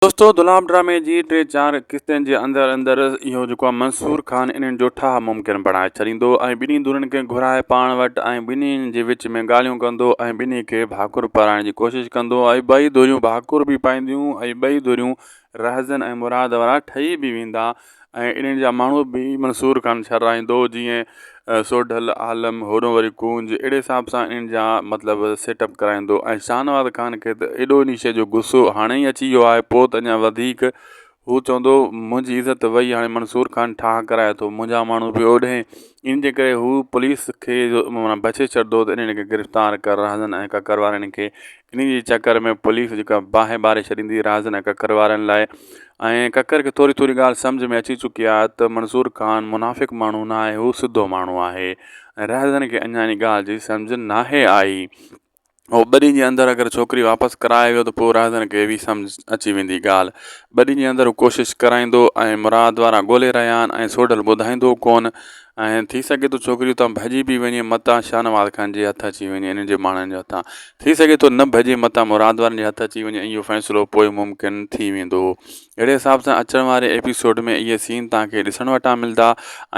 دوستو دلاب ڊرامي جي ٽي چار قسطن جي اندر اندر اهو جيڪو آ منصور خان انهن جو ٺاهه ممڪن بڻائي ڇڏيندو ۽ ٻنهي ڌرين کي گهرائي پاڻ وٽ ۽ ٻنهي جي وچ ۾ ڳالهيون ڪندو ۽ ٻنهي کي ڀاڪر پارائڻ جي ڪوشش ڪندو ۽ ٻئي ڌريون ڀاڪر به پائينديون ۽ ٻئي ڌريون رهزن ۽ مراد وارا ٺهي به ويندا ۽ انهن جا ماڻهو به منصور خان شراريندو هو جيئن سوڍل، عالم، هورنهن واري ڪونج اهڙي حساب سان انهن جا مطلب سيٽ اپ ڪرائيندو ۽ شاهنواز خان کي ته ايڏو انهي شيء جو غصو هاڻي ئي اچي ويو آهي پوء ته اڃا وڌيڪ هو چوندو منهنجي عزت وئي هاڻي منصور خان ٺاهه ڪرائي ٿو منهنجا ماڻهو به اوڏهين انهن جي ڪري هو پوليس کي جو بڇي ڇڏندو ته انهن کي گرفتار ڪر رهندن ۽ ڪڪر وارن کي انهيء جي چڪر ۾ پوليس جيڪا باهه ٻاري ڇڏيندي راز نه ڪڪر وارن لاء ۽ ڪڪر کي ٿوري ٿوري ڳالهه سمجهه ۾ اچي چڪي آهي ته منظور خان منافق ماڻهو نه آهي هو سڌو ماڻهو آهي ۽ رهزن کي اڃا انهيء ڳالهه جي سمجهه ناهي آئي هو ٻه ڏينهن جي اندر اگر ڇوڪري واپس ڪرائي ويو ته پوء رهزن کي به سمجهه اچي ويندي ڳالهه ٻه ڏينهن جي اندر هو ڪوشش ڪرائيندو ۽ مراد وارا ڳولي رهيا آهن ۽ سوڍل ٻڌائيندو ڪونه ۽ ٿي سگهي ٿو ڇوڪري اتان ڀڄي به وڃي متان شاهنواز خان جي هٿ اچي وڃي انهن جي ماڻهن جي هٿان ٿي سگهي ٿو نه ڀڄي متان مراد وارن جي هٿ اچي وڃي ۽ اهو فيصلو پوء ممڪن ٿي ويندو اهڙي حساب سان اچڻ واري ايپيسوڊ ۾ اهي سين تهان کي ڏسڻ وٽان ملدا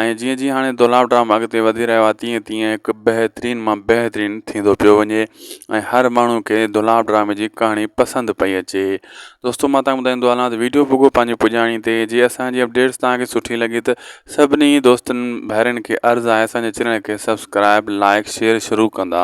۽ جيئن جيئن هاڻي دولاب ڊرامو اڳتي وڌي رهيو آهي تيئن تيئن هڪ بهترين مان بهترين ٿيندو پيو وڃي ۽ هر ماڻهو کي دولاب ڊرامي جي ڪهاڻي پسند پئي اچي دوستو مان تان ٻڌائيندو هلان ته ويڊيو پوڳو پنهنجي پڄاڻي تي جي اسان جي اپڊيٽس تان کي سٺي لڳي ته سڀني دوستن ڀائرن کي عرض آهي اسان جي چينل کي سبسڪرائب لائڪ شيئر شروع ڪندا